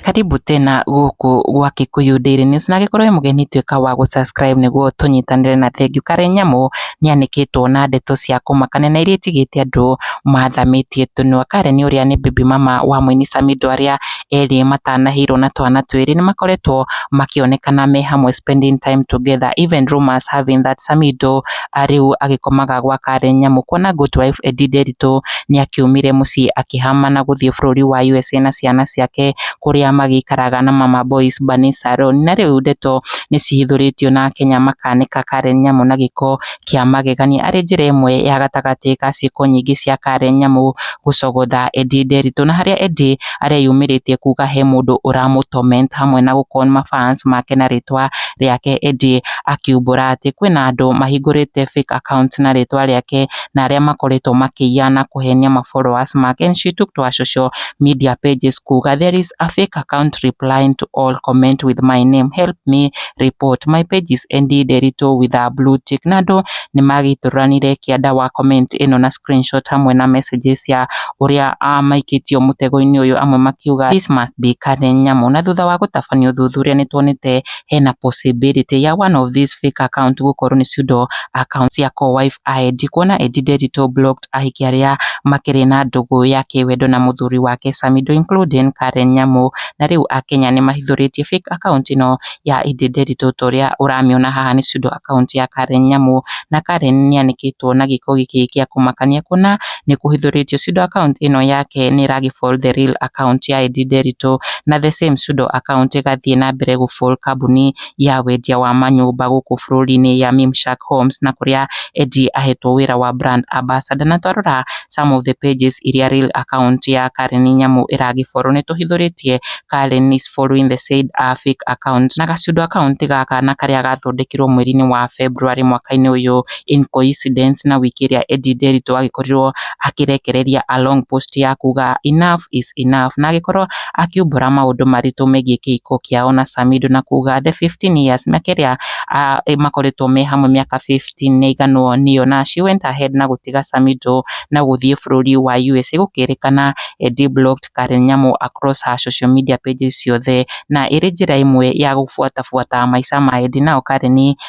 Karibu tena gũkũ gwa Kikuyu Daily News na angĩkorwo wĩ mũgeni tuĩka wa gũ subscribe nĩguo tũnyitanĩre na thengiũ. Karenyamu nĩanĩkĩtwo na ndeto cia kũmakania na iria itigĩte andũ mathamĩtie tũnua. Karen ũrĩa nĩ baby mama wa mũini Samidoh arĩa... erĩ matanahĩirwo na twana twĩrĩ nĩ makoretwo makĩonekana me hamwe spending time together even rumours have it that Samido rĩu agĩkomaga gwa Karen Nyamu kuona good wife Eddie Nderitu nĩ akiumire mũciĩ akĩhama na gũthiĩ bũrũri wa USA na ciana ciake kũrĩa magĩikaraga na Mama Boys Bani Salon na rĩu ndeto nĩ cihithũrĩtio na Akenya makanĩka Karen Nyamu na gĩko kĩa magegania arĩ njĩra ĩmwe ya gatagatĩ ka ciĩko nyingĩ cia Karen Nyamu gũcogotha Eddie Nderitu na harĩa Eddie areyumĩrĩtie kuga he mũndũ ũramũ torment hamwe na gũ con ma fans make na rĩtwa rĩake Eddie akiumbũra atĩ kwĩna andũ mahingũrĩte fake account na rĩtwa rĩake na arĩa makoretwo makĩiya na kũhenia ma followers make and she took to her social media pages kuga there is a fake account replying to all comment with my name help me report. My page is ended a little with a blue tick. Na andũ nĩ magĩtũranire kĩanda wa comment ĩno na screenshot hamwe na messages ya ũrĩa ah, maikĩtio mũtego-inĩ ũyũ amwe makiuga this must be Karen Nyamu. Na thutha wa gũtabania ũthuthuria nĩ tuonete hena possibility ya one of these fake account gũkorwo nĩ pseudo account cia co-wife ID kuona Eddie Derito blocked ahiki arĩa makĩrĩ na ndũgũ ya kĩwendo na mũthuri wake Samido including Karen Nyamu na rĩu akenya nĩ mahithũrĩtie fake account ĩno ya Indi Nderitu ta ũrĩa ũramĩona haha nĩ pseudo account ya Karen Nyamu, na Karen nĩ anĩkĩtwo na gĩko gĩkĩ gĩa kũmakania kuona nĩ kũhithũrĩtio pseudo account ĩno yake nĩ ĩra gĩfall the real account ya Indi Nderitu na the same pseudo account ĩgathiĩ na mbere gũfall kambuni. ya wendia wa manyũmba gũkũ bũrũri-inĩ ya Mimshak Homes na kũrĩa Eddie ahetwo wĩra wa brand ambassador. Na twarora some of the pages iria real account ya Karen Nyamu ĩragĩ follow nĩ tũhithũrĩtie Karen is following the said uh, fake account na gacundo account gaka na karĩa gathondekirwo mweri-inĩ wa February mwaka-inĩ ũyũ in coincidence na wiki ĩrĩa Eddie Nderitu agĩkorirwo akĩrekereria a long post ya kuga enough is enough na agĩkorwo akiumbũra maũndũ maritũ megiĩ kĩhiko kĩao na Samido na kuga the 15 years mĩaka ĩrĩa makoretwo me hamwe mĩaka 15 nĩ aiganwo nĩyo na she went ahead na gũtiga Samido na gũthiĩ bũrũri wa USA gũkĩrĩkana Eddie blocked Karen Nyamu across her social media pages ciothe na ĩrĩ njĩra ĩmwe ya gũbuatabuata maica ma Eddie nao Karen